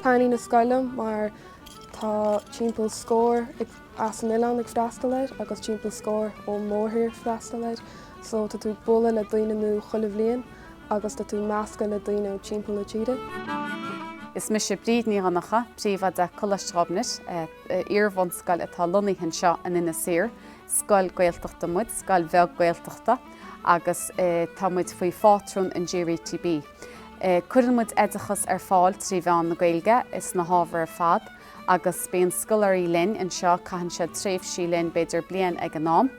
Taitníonn an scoil liom mar tá timpeall scór as an oileán ag freastal air agus timpeall scór ón mórthír ag freastal air so tá tú bualadh le daoine nua chuile bhliain agus tá tú meascadh le daoine ó timpeall na tíre. Is mise Bríd Ní Dhonnacha, príomhoide Coláiste Ghobnait, iarbhunscoil atá lonnaithe anseo in Inis Oírr. Scoil Gaeltachta muid, scoil bheag Gaeltachta, agus tá muid faoi phátrún an GRETB. Cuireann muid oideachas ar fáil trí mheán na Gaeilge ins na hábhair ar fad agus bíonn scoláirí linn anseo, caitheann siad tréimhsí linn, b'fhéidir bliain ag an am.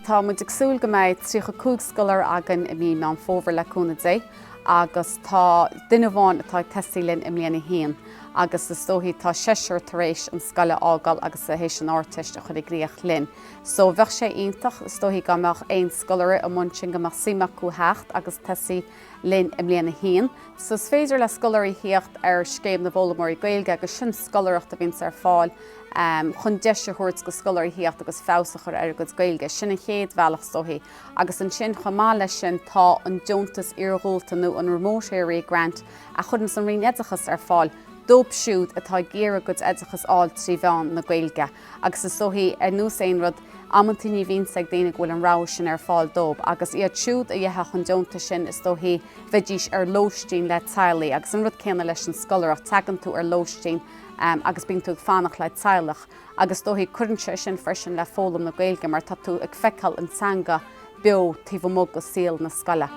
Tá muid ag súil go mbeidh tríocha cúig scoláire againn i mí Meán Fómhair le cúnamh Dé agus tá duine amháin atá ag tosaí linn i mbliain a haon. agus is dóichí atá seisear tar éis an scoil a fhágáil agus tar éis an Ardteist a chur i gcrích linn. So bheadh sé iontach, is dóichí dá mbeadh aon scoláire amuigh ansin go mbeadh suim acu theacht agus tosaí linn i mbliain a haon. So is féidir le scoláirí theacht ar Scéim na bhFoghlaimeoirí Gaeilge agus sin scoláireacht a bhíonns ar fáil chun deis a thabhairt go scoláirí theacht agus feabhas a chur ar a gcuid Gaeilge. Sin an chéad bhealach is dóichí. Agus ansin chomh maith leis sin tá an deontas iarghúlta nó an Remote area grant, a chuireann an Roinn Oideachais ar fáil dóibh siúd atá ag iarraidh a gcuid oideachais a fháil trí mheán na Gaeilge agus is dóichí, ar nós aon rud, amanntaí ní bhíonn a fhios ag daoine go bhfuil an rogha sin ar fáil dóibh agus iad siúd a gheobhadh an deontas sin is dóichí bheidís ar lóistín le teaghlaigh agus an rud céanna leis an scoláireacht, teagann tú ar lóistín agus bíonn tú ag fanacht le teaghlach. agus is dóichí cuireann sé sin freisin le foghlaim na Gaeilge mar tá tú ag feiceáil an teanga beo taobh amuigh go saol na scoile.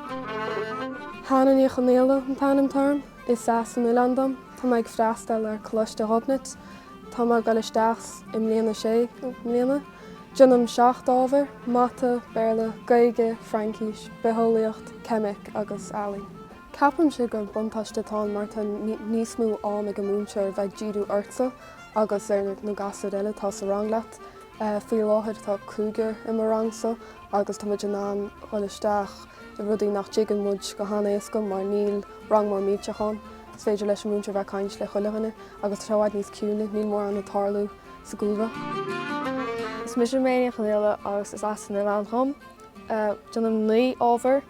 Hannah Ní Chonaola an t-ainm atá orm, is as an oileán dom, Tá mé ag freastal ar Choláiste Ghobnait, tá mé ag dul isteach i mbliain a sé i mbliana. Déanaim seacht ábhar, Mata, Béarla, Gaeilge, Fraincís, Bitheolaíocht, Ceimic agus Ealaín. Ceapaimse gur buntáiste atá ann mar tá níos mó am ag an múinteoir bheith ag díriú ortsa. agus ar na gasúir eile atá sa rang leat. Faoi láthair tá cúigear i mo rangsa agus tá muid in ann dhul isteach i rudaí nach dtuigeann muid go han-éasca mar níl rang mór millteach ann. Is féidir leis an múinteoir bheith ag caint le chuile dhuine agus tá sé i bhfad níos ciúine, níl mórán ag tarlú sa gcúlra. Is mise Méini Ní Chonaola agus is as an oileán dhom. Déanaim naoi ábhar,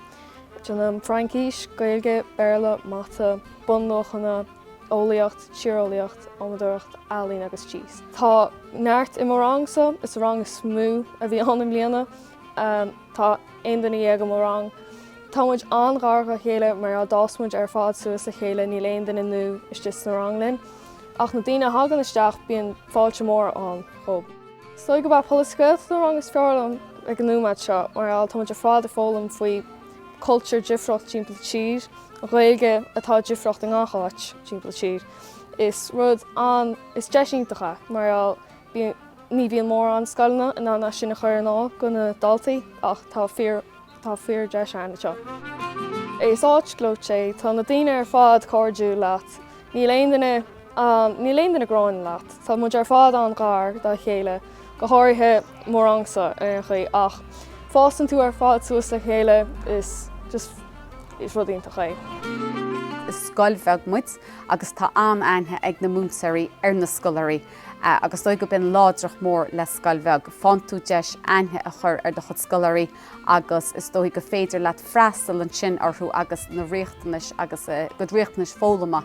déanaim Fraincis, Gaeilge, Béarla, Mata, Bunluachanna, Eolaíocht, Tíreolaíocht, Adhmadóireacht, Ealaín agus Tíos Tá neart i mo rangsa, is é an rang is mó a bhí ann i mbliana. Tá aon duine dhéag i mo rang. Tá muid an-ghar dha chéile mar a d'fhás muid ar fad suas le chéile níl aon duine nua istigh sa rang linn. Ach na daoine a thagann isteach bíonn fáilte mór ann dhób. Is dóigh gurb é Polasaí Gaeltachta an rang is fearr liom ag an nóimeád seo mar tá muid ar fad ag foghlaim faoi cultúr difriocht timpeall tír, Gaeilge atá difriocht i ngach áit timpeall tír. Is rud an, is deis iontach é mar ní bhíonn mórán scoileanna in ann é sin a chur ar fáil do na daltaí ach tá fíordheis ann anseo. Is áit gleoite é, tá na daoine ar fad cairdiúil leat, níl aon duine, Níl aon duine gráin leat. Tá muid ar fad an-ghar dá chéile, go háirithe mo rangsa ar aon chaoi, ach fásann tú ar fad suas le chéile is rud iontach é. Is scoil bheag muid agus tá an-aithne ag na múinteoirí ar na scoláirí agus is dóigh gob in láidreacht mór le scoil bheag, faigheann tú deis aithne a chur ar do chuid scoláirí agus is dóigh gur féidir leat freastal ansin orthu agus na riachtanais agus a gcuid riachtanais foghlama.